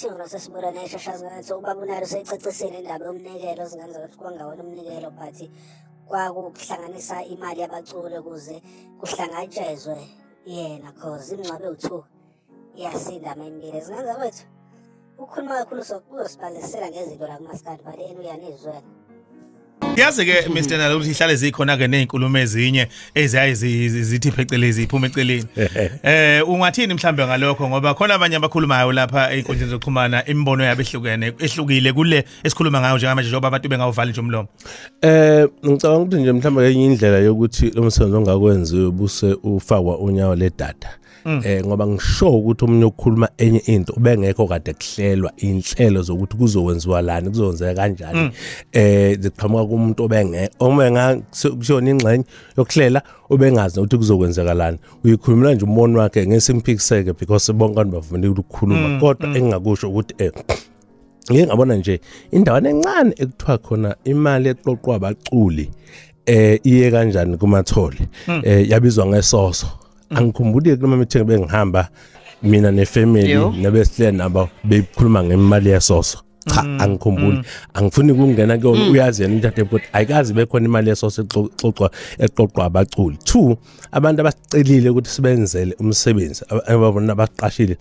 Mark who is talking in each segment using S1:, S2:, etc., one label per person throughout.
S1: isivuna sesibula neshashazanetho ubaba unalo seyicacisile indaba yomnikelo zingenza ukuthi kwangawona umnikelo but kwakuhlanganisa imali yabaculi ukuze kuhlangatshezwe yena cause imngcwabe u-two iyasinda mempilo zingenza wethu ukhuluma kakhulu sokuzosibalisela ngezinto la kumaskandi
S2: but enu uyanizwela yazi ke Mr Nalo ukuthi ihlale zikhona ke nezinkulumo ezinye eziyaye zithi phecelezi iphuma eceleni eh ungathini mhlambe ngalokho ngoba khona abanye abakhulumayo lapha einkundleni zokuxhumana imibono yabo ehlukene ehlukile kule esikhuluma ngayo njengamanje njengoba abantu bengawuvali nje umlomo eh
S3: ngicabanga ukuthi nje mhlambe enye indlela yokuthi lo msebenzi ongakwenziwe buse ufakwa unyawo ledata Mm. eh ngoba ngisho ukuthi umunye ukukhuluma enye into ubengekho kade kuhlelwa inhlelo zokuthi kuzokwenziwa lani kuzokwenzeka kanjani mm. eh ziqhamuka kumuntu obenge omenga kushona ingxenye yokuhlela ubengazi ukuthi kuzokwenzeka lani uyikhulumela nje umbono wakhe ngesimpikiseke because bonke abantu bavumile ukukhuluma mm, kodwa engingakusho ukuthi eh ngike ngabona nje indawana encane ekuthiwa khona imali eqoqwa abaculi eh iye kanjani kumathole hmm. eh yabizwa ngesoso hmm. angikhumbuli kuloma mithenge bengihamba mina nefamily nabesihle nabo beyikhuluma ngemali yesoso cha mm, angikhumbuli mm. angifuni kungena kuyona mm. uyazi yena umthathe ukuthi ayikazi bekhona imali yeso sixoxwa eqoqwa abaculi two abantu abasicelile ukuthi sibenzele umsebenzi ababona abaqashile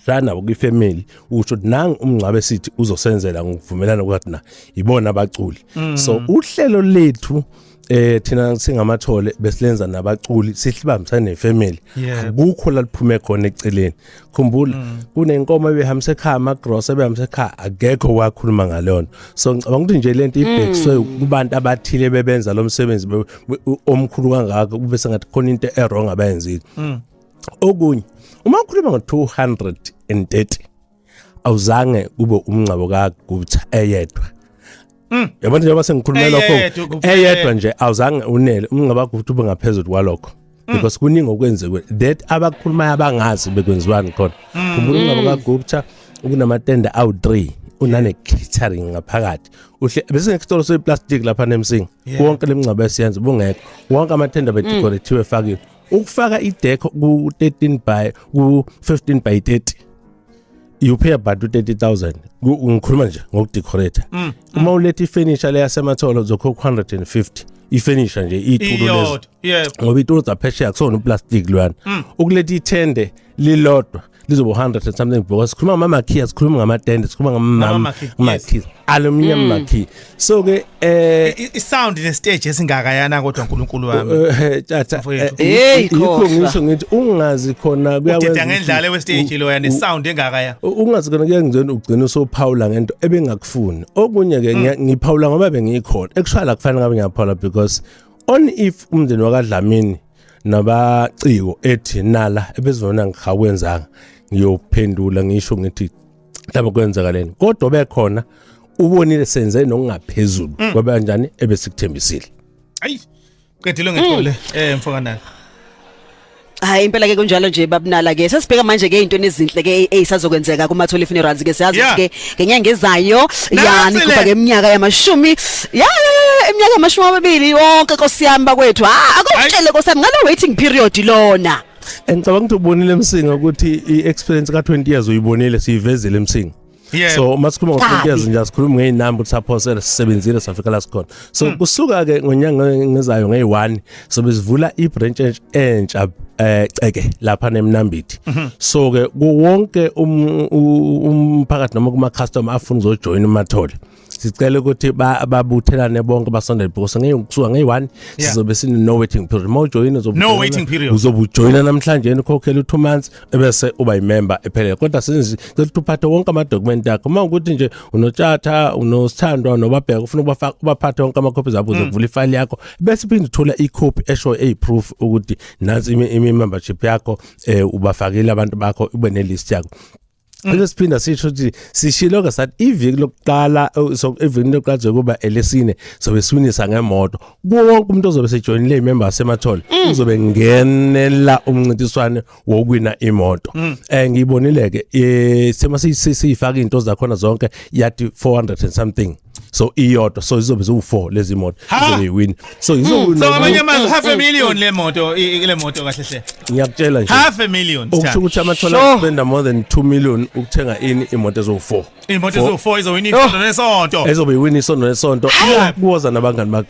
S3: sana kwifamily usho nangu umngcwabe sithi uzosenzela ngokuvumelana kwathi na ibona abaculi mm. so uhlelo lethu eh thina singamathole besilenza nabaculi sihlibambisa nefamily akukho la liphume khona eceleni khumbula mm. kunenkomo ebehambise ekhaya ama gross ebehambise ekhaya akekho wakhuluma ngalona so ngicabanga ukuthi nje lento ibhekiswe mm. kubantu abathile bebenza lo msebenzi omkhulu kangaka kube sengathi khona into e wrong abayenzile mm. okunye uma ukhuluma ngo-230 awuzange kube umngcabo kagubutha eyedwa Mm. yabona njengoba sengikhulumela lokho Eyedwa kuphela. eyedwa nje awuzange unele umngcaba ukuthi ube ngaphezulu kwalokho Mm. because kuningi okwenziwe that abakhulumayo abangazi bekwenziwani khona Mm. khumbula umngcaba kagupta ubunamatende awu-3 unane-catering ngaphakathi uhle bese ngesitolo seplastic lapha nemsinga Yebo. wonke le mngcaba esiyenza bungekho wonke amatende bedekorethiwe efakiwe ukufaka ideck ku 13 by ku 15 by 30 you pay about 30000 ngikhuluma nje ngokudecorate mm, mm. uma ulethe ifurniture leyasematholo uzokhokha 150 ifurniture nje iyithulo lezo ngoba iyithulo zaphesheya kusona uplastic lwana mm. ukuletha ithende lilodwa lizoba 100 and something because sikhuluma ngama makhiya sikhuluma ngama tende sikhuluma ngama makhiya aluminium mm. makhiya so ke eh i sound
S2: ne stage esingaka yana kodwa uNkulunkulu wami eh, eh, tata eh,
S3: hey ikho ngisho ngithi ungazi khona kuyakwenza udida ngendlale we
S2: stage lo yana sound engaka ya ungazi khona kuyangizona
S3: ugcina usophawula ngento ebengakufuni okunye ke mm. ngiphawula ngoba bengikhona ekushaya la kufanele ngabe ngiyaphawula because on if umndeni wakadlamini nabaciko ethi nala ebezona ngihakwenzanga ngiyophendula ngisho ngithi mhlawumbe kwenzakaleni kodwa bekhona ubonile senze nokungaphezulu mm. kwabe kanjani ebesikuthembisile ayi
S2: qedile ngethole mm. eh mfokanana
S4: Hayi impela ke kunjalo nje babunala ke sesibheka manje ke into enezinhle ke eyisazokwenzeka kuma Thole funerals ke siyazi ukuthi ke ngenyanga ezayo ya nigubhake iminyaka yamashumi ya iminyaka yamashumi amabili yonke nkosi yami bakwethu ha akutshele nkosi yami ngalo waiting period lona ngicabanga ukuthi
S3: ubonile emsinga ukuthi i-experience ka-20 years uyibonile siyivezile emsinga Yeah. so masikhuluma ngo-20 years nje asikhulumi ngey'namba ukuthi saphosela sisebenzile safika la sikhona so hmm. kusuka-ke ngonyanga ngezayo ngeyi-one so besivula ibranch entsha eh ceke lapha nemnambithi mhm. so ke kuwonke um, umphakathi noma kuma customer afuna uzojoin umathole sicela ukuthi babuthelane bonke basondele because ngeke kusuka ngeyi-1 sizobe sine no waiting period uma ujoyina uzobujoyina namhlanje ukhokhela u-two months ebese uba yimember ephelele kodwa senzi cela uphathe wonke amadokumenti akho uma ukuthi nje unotshatha unosithandwa nobabheka ufuna ubafaka ubaphathe wonke amakhophi zabo ukuze mm. kuvule ifile yakho bese phinde uthola ikhophi esho eyiproof ukuthi nansi imembership yakho eh ubafakile abantu bakho ube nelist yakho Mm. lesiphinda sisho ukuthi sishilo ke sathi iviki lokuqala oh, so iviki lokuqala kuba elesine sobe siwinisa ngemoto kuwo wonke umuntu ozobe sejoyinile imember semathole mm. uzobe ngenela umncintiswane wokuwina imoto mm. eh ngiyibonile ke eh, sema siyifaka into zakhona zonke yathi 400 and something so iyodwa so izobe ziwu4 lezi moto izoyiwin so hmm, izowina so abanye amazwi half a
S2: million le moto ile moto kahle hle ngiyakutshela nje half a
S3: million ukusho ukuthi
S2: amathola
S3: spend more than 2 million ukuthenga ini imoto ezowu4 imoto ezowu4 izowina isonto
S2: nesonto
S3: ezobe iwina isonto nesonto kuwoza
S2: nabangani
S3: bakhe